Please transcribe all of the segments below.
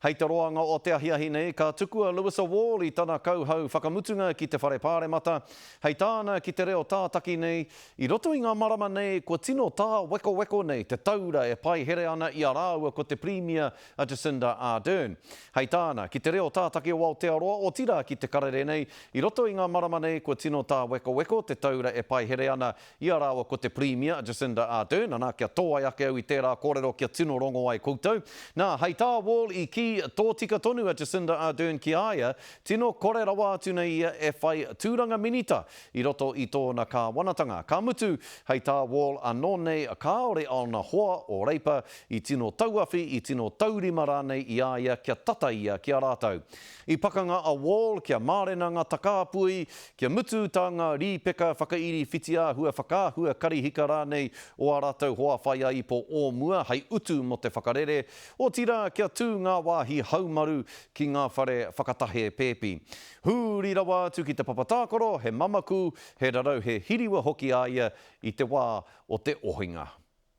Hei te roanga o te ahiahi nei, ka tuku a Lewis a Wall i tana kauhau whakamutunga ki te Whare Pāremata, hei tāna ki te reo tātaki nei, I roto i ngā marama nei, kua tino tāwekoweko nei te taura e paihere ana i a rāua ko te Pirimia a Jacinda Ardern. Hei tāna, ki te reo tātaki o Aotearoa, otirā ki te karere nei, i roto i ngā marama nei kua tino tāwekoweko te taura e paihere ana Ia rāua ko te Pirimia, Jacinda Ardern, ana, kia tōai ake au i tērā kōrero kia tino rongo ai koutou. Nā, hei tā Wall i kī, tōtika tonu a Jacinda Ardern ki a ia, tino kore rawa atu nei ia e whai tūranga minita i roto i tōna kāwanatanga. Ka mutu, hei tā Wall anō nei, kāore ōna hoa, ō Reipa, i tino tauawhi, i tino taurima rānei i a ia kia tata ia ki a rātou. I pakanga a Wall kia mārena ngā takāpui, kia mutu tā ngā rīpeka whakairi whitiāhua, whakaahua, karihika rānei o ā rātou hoa whaiāipo o mua hei utu mō te whakarere, otirā kia tū ngā wāhi haumaru ki ngā whare whakatahē pēpi. Huri rawa atu ki te papa tākaro, he mamaku, he rarau he hiriwa hoki a ia i te wā o te ohinga.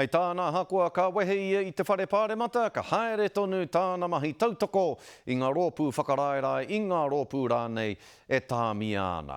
Hei tāna ahakoa ka wehe ia i te whare pāremata ka haere tonu tāna mahi tautoko i ngā rōpū whakaraerae, i ngā rōpū rānei e tāmia ana.